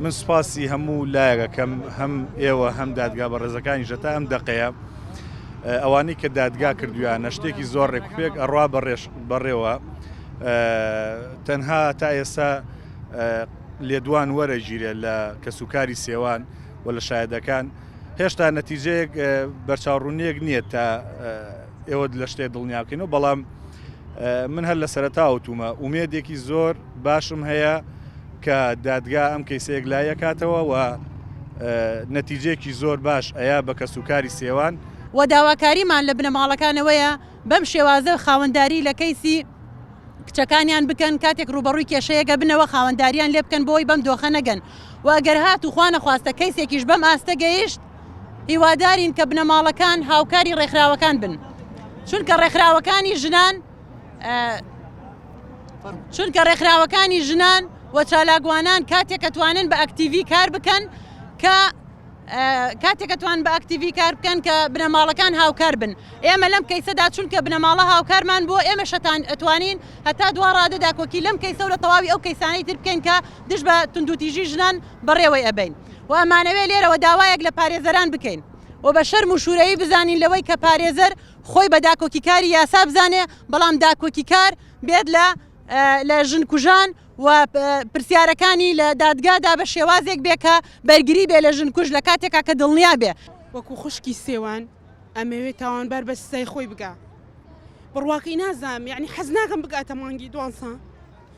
من سوپاسی هەموو لایەک ئەکەم هەم ئێوە هەم دادگا بەڕێزەکانیش هەتا ئەم دەقەیە ئەوانەی کە دادگا کردویانە شتێکی زۆر ڕێکوپێک ئەڕوا بەڕێش بەڕێوە تەنها تا ئێستا لێدوان وەرەگیرێت لە کەسوکاری سێوان و لە شایدەکان هێشتا نەتیجەیەک بەرچاوڕونیەک نییە تا ئێوە لە شتێ دڵنیا بکەینەوە بەڵام من هەر لە سەرەتا وتومە ئومێدێکی زۆر باشم هەیە کە دادگا ئەم کەیسەیەک لایەکاتەوە و نەتیجێکی زۆر باش ئەیا بە کەس و کاری سێوان و داواکاریمان لە بنەماڵەکانەوەیە بەم شێوازە خاوەنداری لە کەیسی کچەکانیان بکەن کاتێک ڕوبەڕووی کێشەیەگە بنەوە خاوەنداریان لێ بکەن بۆی بەم دۆخە نەگەن و ئەگەر هات و خوانە خواستە کەیسێکیش بەم ئاستە گەیشت هیوادارین کە بنەماڵەکان هاوکاری ڕێکخراوەکان بن چونکە ڕێکخراوەکانی ژنان چونکە ڕێکخراوەکانی ژنان و چالاگوانان کاتێک ئەتوانن بە ئەکتیڤی کار بکەن کە کاتێکەتوان بە ئەکتیڤی کار بکەن کە بنەماڵەکان هاوکار بن ئێمە لەم کەیسەدا چونکە بنەماڵە هاوکارمان بۆ ئێمە شەتان ئەتوانین هەتا دوا ڕادەدا کۆکی لەم کەیسە لە تەواوی ئەو کەیسانەی تر بکەین کە دژ بە تونندوتیژی ژنان بەڕێوەی ئەبەین و ئەمانەوێ لێرەوە داوایەک لە پارێزەران بکەین و بە شەرم و شوورەیی بزانین لەوەی کە پارێزەر خۆی بە داکۆکیکاری یاسا بزانێ بەڵام داکۆکیکار بێت لە لە ژن کوژان و پرسیارەکانی لە دادگادا بە شێوازێک بێ کە بەرگری بێ لە ژن کوژ لە کاتێکا کە دڵنیا بێ وەکو خوشکی سێوان ئەمەوێ تاوانبار بە سزای خۆی بگا بڕواقی نازانم یەعنی حەز ناکەم بگاتە مانگی دوانزە.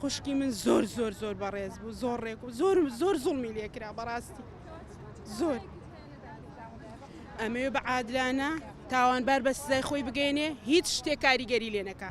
خوشکی من زۆر زۆر زۆر بەڕێز بوو زۆر ڕێک و زۆر زۆر زوڵمی لێکرا بەڕاستی زۆر ئەمەوێ بە عادلانە تاوانبار بە سزای خۆی بگەێنێ هیچ شتێک کاریگەری لێ نەکە.